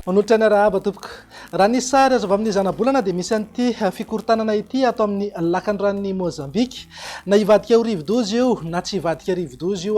Manolotra ny arahaba tompoko. Raha ny sary azo avy amin'ny zanabolana dia misy an'ity fikorontanana ity ato amin'ny lakan'ny ranon'i Mozambika. Na hivadika ho rivodoza io na tsy hivadika rivodoza io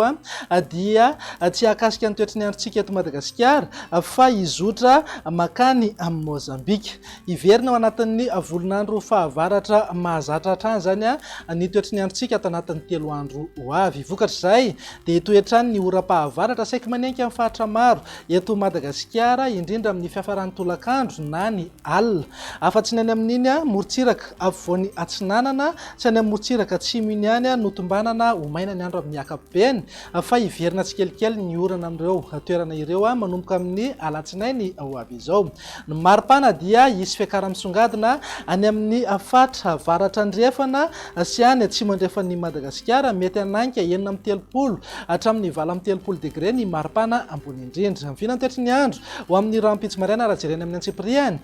dia tsy hahakasika ny toetry ny androntsika eto Madagasikara fa hizotra makany amin'i Mozambika. Hiverina ao anatin'ny volon'andro fahavaratra mahazatra hatrany izany ny toetry ny androntsika ato anatin'ny telo andro ho avy. Vokatr'izay dia hitohy hatrany ny oram-pahavaratra saiky manenky amin'ny faritra maro eto Madagasikara, indrindra amin'ny fiafaran'ny tolakandro na ny alina. Afa-tsy ny any amin'iny morontsiraka afovoany atsinanana sy any amin'ny morontsiraka atsimo iny ihany no tombanana ho maina ny andro amin'ny ankapobeny Fa hiverina tsikelikely ny orana amin'ireo toerana ireo manomboka amin'ny alatsinainy ho avy izao. Ny mari-pana dia hisy fiakaran'ny misongadina any amin'ny faritra avaratra andrefana sy any atsimo andrefan'i Madagasikara, mety hanainga enina amby telopolo hatramin'ny valo amby telopolo degre ny mari-pana ambony indrindra. Vinantoetry ny andro ho amin'ny rahampitso maraina raha jerena amin'ny antsipirihany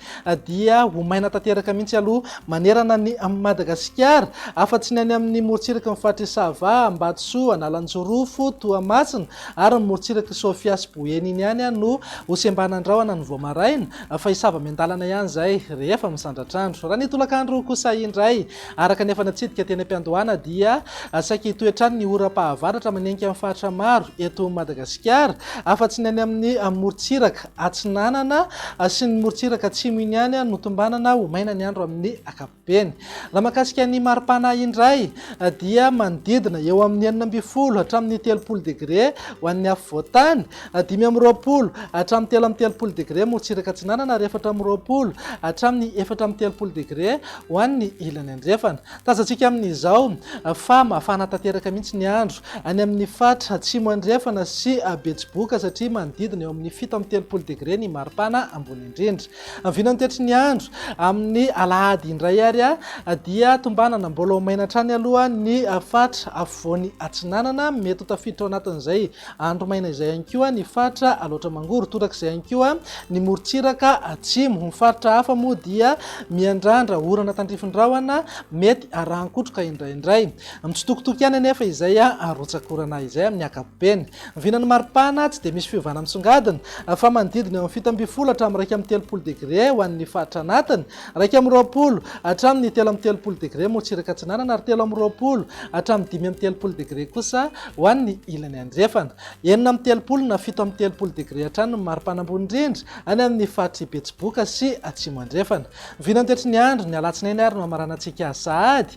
dia ho maina tanteraka mihitsy aloha manerana an'i Madagasikara, afa-tsy ny any amin'ny morontsiraky ny faritr'i Sava, Ambatosoa, Analanjorofo, Toamasina ary ny morontsirak'i Sofia sy Boeny iny ihany no ho sembanan-drahona ny vao maraina, fa hisava miandalana ihany izay rehefa misandratr'andro. Raha ny tolakandro kosa indray, araka ny efa natsidika teny am-piandohana, dia saika hitohy hatrany ny oram-pahavaratra manenika amin'ny faritra maro eto Madagasikara, afa-tsy ny any amin'ny morontsiraka. Atsinanana sy ny morontsiraka atsimo iny ihany no tombanana ho maina ny andro amin'ny ankapobeny. Raha mahakasika ny mari-pana indray dia manodidina eo amin'ny enina ambin'ny folo hatramin'ny telopolo degre ho an'ny afovoan-tany, dimy amby roapolo hatramin'ny telo amby telopolo degre morontsiraka atsinanana ary efatra amby roapolo hatramin'ny efatra amby telopolo degre ho an'ny ilany andrefana. Tazantsika amin'izao fa mafana tanteraka mihitsy ny andro any amin'ny faritra Atsimo Andrefana sy Betsiboka satria manodidina eo amin'ny fito amby telopolo degre ny maripana ambony indrindra. Ny vinany tetry ny andro amin'ny alahady indray ary dia tombanana mbola ho maina hatrany aloha ny faritra Afovoany Atsinanana. Mety ho tafiditra ao anatin'izay Andro maina izay ihany koa ny faritra Alaotra Mangoro, torak'izay ihany koa ny morontsiraka atsimo. Ny faritra hafa moa dia miandrandra orana tandrifin'ny rahona mety arahan-kotroka indraindray. Mitsitokotoko ihany anefa izay arotsakorana izay amin'ny ankapobeny. Vinan'ny maripana tsy dia misy fiovana misongadina fa manodidina eo amin'ny fito ambin'ny folo hatramin'ny iraika amby telopolo degre ho an'ny faritra anatiny Iraika amby roapolo hatramin'ny telo amby telopolo degre morotsiraka atsinanana ary telo amby roapolo hatramin'ny dimy amby telopolo degre kosa ho an'ny ilany andrefana. Enina amby telopolo na fito amby telopolo degre hatrany ny maripana ambony indrindra any amin'ny faritr'i Betsiboka sy Atsimo Andrefana. Ny vinany toetry ny andro, ny alatsinainy ary no hamaranantsika sahady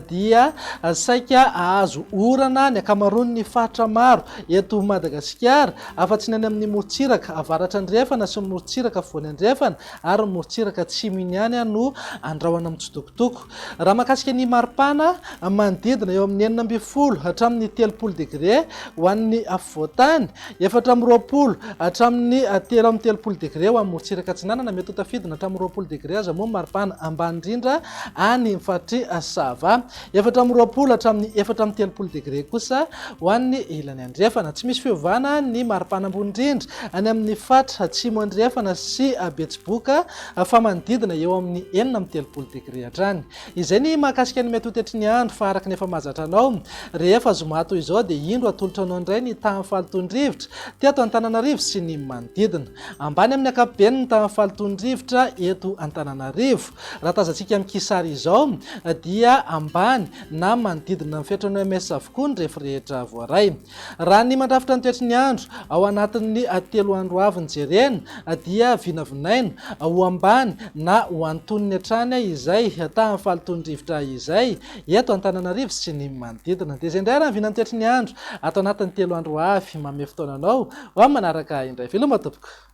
dia saika hahazo orana ny ankamaroan'ny faritra maro eto Madagasikara afa-tsy ny any amin'ny morotsiraka avaratra andrefana sy ny morotsiraka afovoany andrefana ary ny morontsiraka atsimo iny ihany no andrahona mitsitokotoko. Raha mahakasika ny maripana, manodidina eo amin'ny enina ambin'ny folo hatramin'ny telopolo degre ho an'ny afovoantany, efatra amby roapolo hatramin'ny telo amby telopolo degre ho an'ny morontsiraka atsinanana, mety ho tafidina hatramin'ny roapolo degre aza moa ny maripana ambany indrindra any faritry Sava. Efatra amby roapolo hatramin'ny efatra amby telopolo degre kosa ho an'ny ilany andrefana. Tsy misy fiovana ny maripana ambony indrindra any amin'ny fatra atsimo andrefana sy Betsiboka fa manodidina eo amin'ny enina amby telopolo degre hatrany. Izay ny mahakasika ny metotetry ny andro fa araka ny efa mahazatra anao rehefa zoma toy izao dia indro atolotra anao indray ny tahan'ny fahalotoan-drivotra teto Antananarivo sy ny manodidina. Ambany amin'ny ankapobeny ny tahan'ny fahalotoan-drivotra eto Antananarivo. Raha tazantsika amin'ity sary izao dia ambany na manodidina ny fetrany oms avokoa ny refy rehetra voaray. Raha ny mandrafitra ny toetry ny andro ao anatin'ny telo andro avy no jerena dia vinavinaina ho ambany na ho antonony hatrany izay tahan'ny fahalotoan'ny rivotra izay eto Antananarivo sy ny manodidina. Dia izay indray raha ny vinan'ny toetry ny andro ato anatin'ny telo andro avy. Manome fotoana anao ho amin'ny manaraka indray. Veloma tompoko.